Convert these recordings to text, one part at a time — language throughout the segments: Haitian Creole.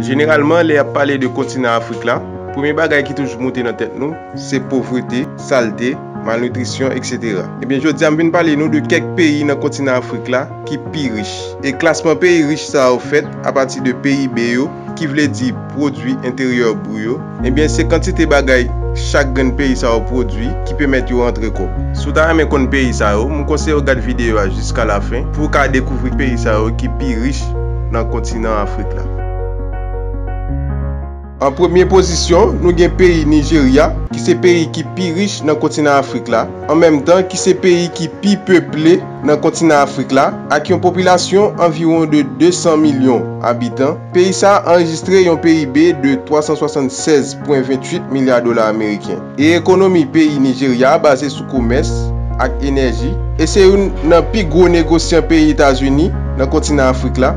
Jeneralman, lè y ap pale de kontinan Afrik la, premye bagay ki toujou moute nan tèt nou, se povrete, salte, malnitrisyon, eksetera. Ebyen, jodi a m vin pale nou de kèk peyi nan kontinan Afrik la ki pi rich. E klasman peyi rich sa yo fèt apati de PIB yo, ki vle di Pwodui Enteryè Bru yo, Ebyen se kantite bagay chak grenn peyi sa yo pwodwi ki pemèt yo antre kòb. Si w ta renmen konn peyi sa yo, m konseye w gad videyo a jiska lafen pou w ka dekouvri peyi sa yo ki pi rich nan kontinan Afrik la. An premye pozisyon, nou gen peyi Nijerya, ki se peyi ki pi rich nan kontinan Afrik la, an menm tan ki se peyi ki pi peple nan kontinan Afrik la, ak yon popilasyon anviwon de 200 milyon abitan. Peyi sa a anrejistre yon PIB de 376,28 milya dola ameriken, e ekonomi peyi Nijerya a baze sou komès ak enèji, e se youn nan pi gwo negosyan peyi Etazini nan kontinan Afrik la,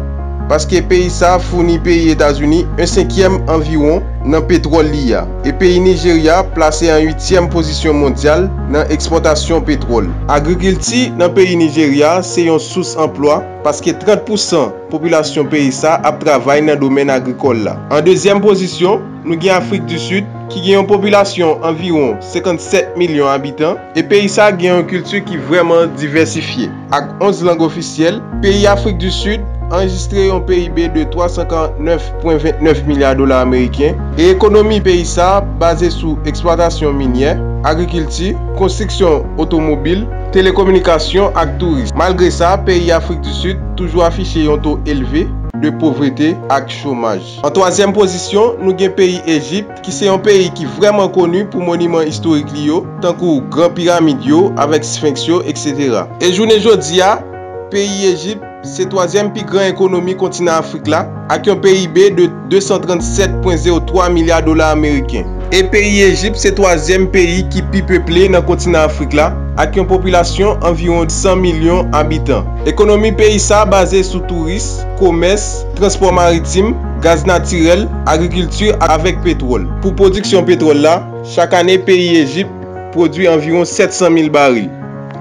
paske peyi sa a founi peyi Etazini en senkyèm anviwon nan petwòl li a, e peyi Nijerya plase an uityèm pozisyon mondyal nan ekspòtasyon petwòl. Agrikilti nan peyi Nijerya se yon sous anplwa, paske 30 pousan Popilasyon peyi sa ap travay nan domèn agrikòl la. An dezyèm pozisyon, nou gen Afrik di Sid, ki gen yon popilasyon anviwon 57 milyon abitan, e peyi sa gen yon kilti ki vrèman divèsifye. Ak 11 lang ofisyèl, peyi Afrik di Sid anrejistre yon PIB de 349,29 milya dola ameriken, e ekonomi peyi sa baze sou eksplwatasyon minyè, agrikilti, konstriksyon otomobil, Telekominikasyon ak touris. Malgre sa, peyi Afrik di Sid toujou afiche yon to elve de povrete ak chomaj. An twazyèm pozisyon, nou gen peyi Ejipt, ki se yon peyi ki vrèman koni pou moniman istorik li yo, tankou gran piramid yo avèk sfenks yo, eksetera. E jounen jodi a, peyi Ejipt. Se twazyèm pi gran ekonomi kontinan Afrik la, ak yon PIB de 237,03 milya dola ameriken. E peyi Ejip se twazyèm peyi ki pi peple nan kontinan Afrik la, ak yon popilasyon anviwon 100 milyon abitan. Ekonomi peyi sa baze sou touris, komès, transpò maritim, gaz natirèl, agrikilti avèk petwòl. Pou pwodiksyon petwòl la, chak ane peyi Ejip pwodui anviwon 700 mil baril.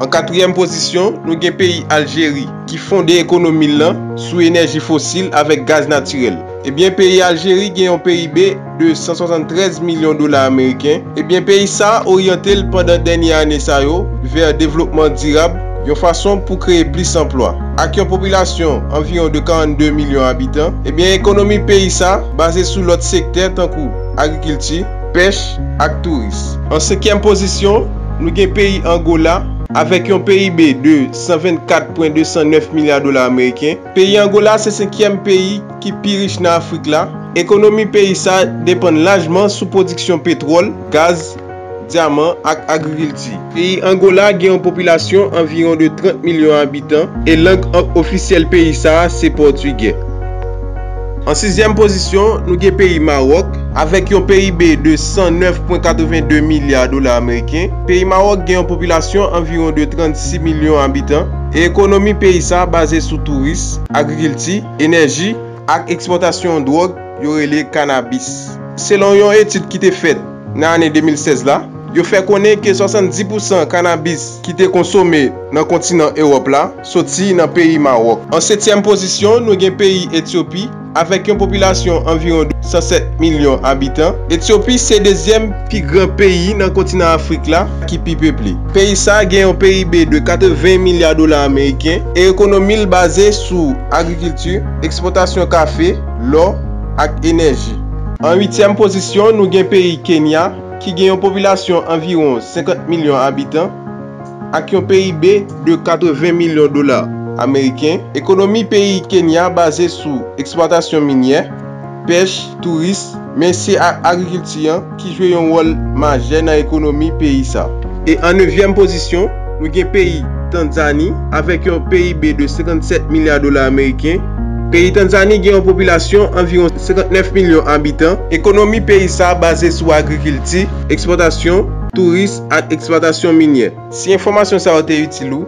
An katriyèm pozisyon, nou gen peyi Aljeri ki fonde ekonomi l lan sou enèji fosil avèk gaz natirèl. Ebyen peyi Aljeri gen yon PIB de 173 milyon dola ameriken. Ebyen peyi sa a oryante l pandan dènye ane sa yo vè devlopman dirab yon fason pou kreye plis anplwa. Ak yon popilasyon anviwon de 42 milyon abitan, ebyen ekonomi peyi sa baze sou lòt sektè tankou agrikilti, pèch ak touris. An senkyèm pozisyon, nou gen peyi Angola, avèk yon PIB de 124,209 milya dola ameriken. Peyi Angola se senkyèm peyi ki pi rich nan Afrik la. Ekonomi peyi sa depann lajman sou pwodiksyon petwòl, gaz, dyaman ak agrikilti. Peyi Angola gen yon popilasyon anviwon de 30 milyon abitan e lang ofisyèl peyi sa a se pòtigè. An sizyèm pozisyon, nou gen peyi Mawòk. Avèk yon PIB de 109 pwen 82 milya dola ameriken, peyi Mawòk gen yon popilasyon anviwon de 36 milyon abitan e ekonomi peyi sa a baze sou touris, agrikilti, enèji ak ekspòtasyon yon dwòg yo rele kanabis. Selon yon etid ki te fèt nan ane 2016 la, yo fè konnen ke 70 pousan kannabis ki te konsome nan kontinan Ewòp la soti nan peyi Mawòk. An setyèm pozisyon, nou gen peyi Etyopi, avèk yon popilasyon anviwon 207 milyon abitan. Etyopi se dezyèm pi gran peyi nan kontinan Afrik la ki pi peple. Peyi sa gen yon PIB de 80 milya dola ameriken e ekonomi l baze sou agrikilti, ekspòtasyon kafe, lò ak enèji. An uityèm pozisyon nou gen peyi Kenya ki gen yon popilasyon anviwon 50 milyon abitan ak yon PIB de 80 milyon dola ameriken. Ekonomi peyi Kenya baze sou eksplwatasyon minyè, pèch, touris, men se ak agrikilti an. ki jwe yon wòl majè nan ekonomi peyi sa. E an nevyèm pozisyon, nou gen peyi Tanzani avèk yon PIB de 57 milya dola ameriken. Peyi Tanzani gen yon popilasyon anviwon 59 milyon abitan. Ekonomi peyi sa baze sou agrikilti, ekspòtasyon, touris ak eksplwatasyon minyè. Si enfòmasyon sa yo te itil ou,